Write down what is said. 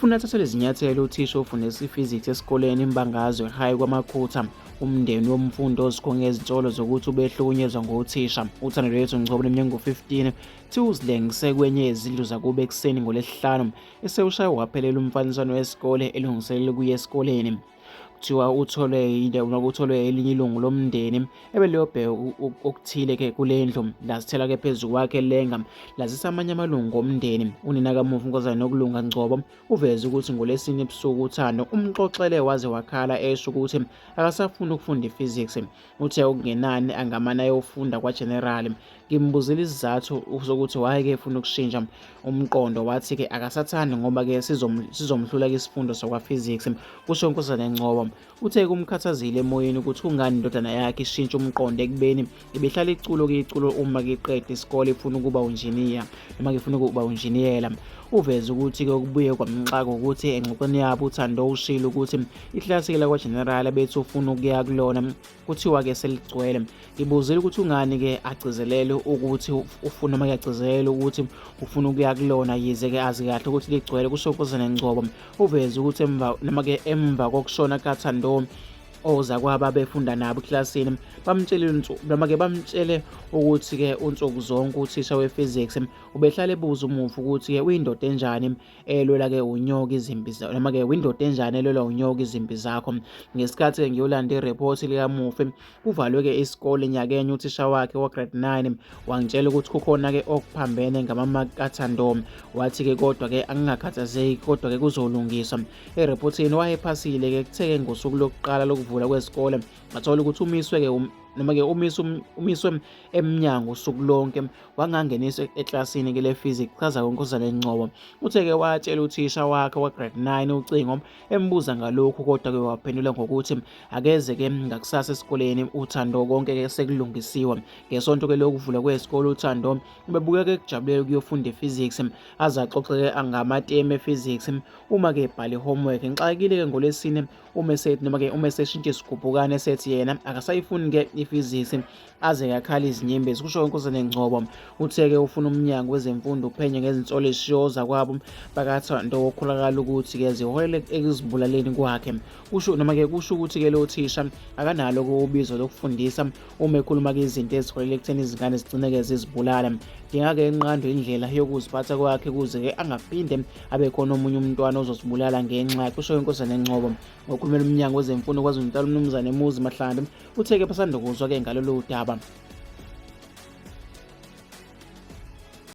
Ufuna athathelwe izinyathelo uthisha ofundisa iphysics esikoleni imbangazwe high kwamakhutha umndeni womfundi ozikhonge izinsolo zokuthi ubehlukunyezwa ngothisha uthando lwethu ngcobo nemnyango 15 thi uzilengise kwenye yezindlu zakube ekuseni ngolesihlanu esewushaye waphelela umfaniswano wesikole elungiselele kuye esikoleni kuthiwa uthole noma uthole elinye ilungu lomndeni ebeliyobheka okuthile-ke kule ndlu lazithela-ke phezu kwakhe lenga lazisa amanye amalungu omndeni unina kamuva unkozane nokulunga ngcobo uveze ukuthi ngolesine ebusuku uthando umxoxele waze wakhala esho ukuthi akasafuni ukufunda i-physics Uthe okungenani angamane ayofunda kwa-general. Ngimbuzile isizathu sokuthi wayeke efuna ukushintsha umqondo wathi-ke akasathandi ngoba-ke sizomhlula isifundo sokwa-physics, kusho uNkosazana Ngcobo. Uthe kumkhathazile emoyeni ukuthi kungani indodana yakhe ishintsha umqondo ekubeni ibihlala iculo kiculo uma kiqeda isikole ifuna ukuba unjiniya noma ngifuna ukuba unjiniyela. Uveze ukuthi-ke okubuye kwamxaka ukuthi engxoxweni yabo uThando ushilo ukuthi Ikilasi lakwaGeneral abethi ufuna ukuya kulona kuthiwa-ke seligcwele. Ngibuzile ukuthi ungani-ke agcizelele ukuthi ufuna uma kuyagcizelela ukuthi ufuna ukuya kulona yize-ke azi kahle ukuthi ligcwele kusho uKuzana Ngcobo. Uveze ukuthi emva noma-ke emva kokushona kukaThando ozakwaba befunda nabo eklasini bamtshele noma-ke bamtshele ukuthi-ke unsuku zonke uthisha we-physics ubehlale ebuza umufi ukuthi-ke uyindoda enjani elwela-ke unyoka izimpi noma-ke windoda enjani elwela unyoka izimpi zakho ngesikhathi-ke ngiyolanda irephothi likamufi kuvalwe-ke isikole nyakenye uthisha wakhe wa-grade 9 wangitshela ukuthi kukhona-ke okuphambene ngamamaki kathando wathi-ke kodwa-ke angingakhathazeki kodwa-ke kuzolungiswa erephothini wayephasile-ke kuthe-ke ngosuku lokuqala lokuvula kwesikole ngathola ukuthi umiswe-ke um, noma-ke umiswe um, emnyango usuku lonke wangangeniswa eklasini ke le-physics chaza konkosazane Ngcobo uthe-ke watshela uthisha wakhe wa-grade 9 ucingo embuza ngalokhu kodwa-ke waphendula ngokuthi akeze-ke ngakusasa esikoleni uthando konke-ke sekulungisiwe ngesonto-ke lokuvula kwesikole uthando ubebukeka ekujabulele ukuyofunda e-physics aze axoxeke ngamatemu e-physics uma-ke ebhala i-homework ngixakekile-ke ngolesine uma esethi noma-ke uma eseshintshe isigubhukane esethi yena akasayifuni-ke i-physics aze yakhala izinyembezi kusho uNkosazana Ngcobo uthe-ke ufuna umnyango wezemfundo uphenye ngezinsolo ezishiwo zakwabo bakathwa nto okukholakala ukuthi-ke ziholela ekuzibulaleni kwakhe kusho noma-ke kusho ukuthi-ke lo thisha akanalo kobizo lokufundisa uma ekhuluma-ke izinto eziholela ekutheni izingane zigcine-ke zizibulala dingake enqandwe indlela yokuziphatha kwakhe kuze-ke angaphinde abe khona omunye umntwana ozozibulala ngenxa kusho inkosazana Ngcobo ngokhulumela umnyango wezemfundo kwazulu-natal umnumzane muzi mahlande Uthe-ke basandokuzwa-ke ngalolu daba.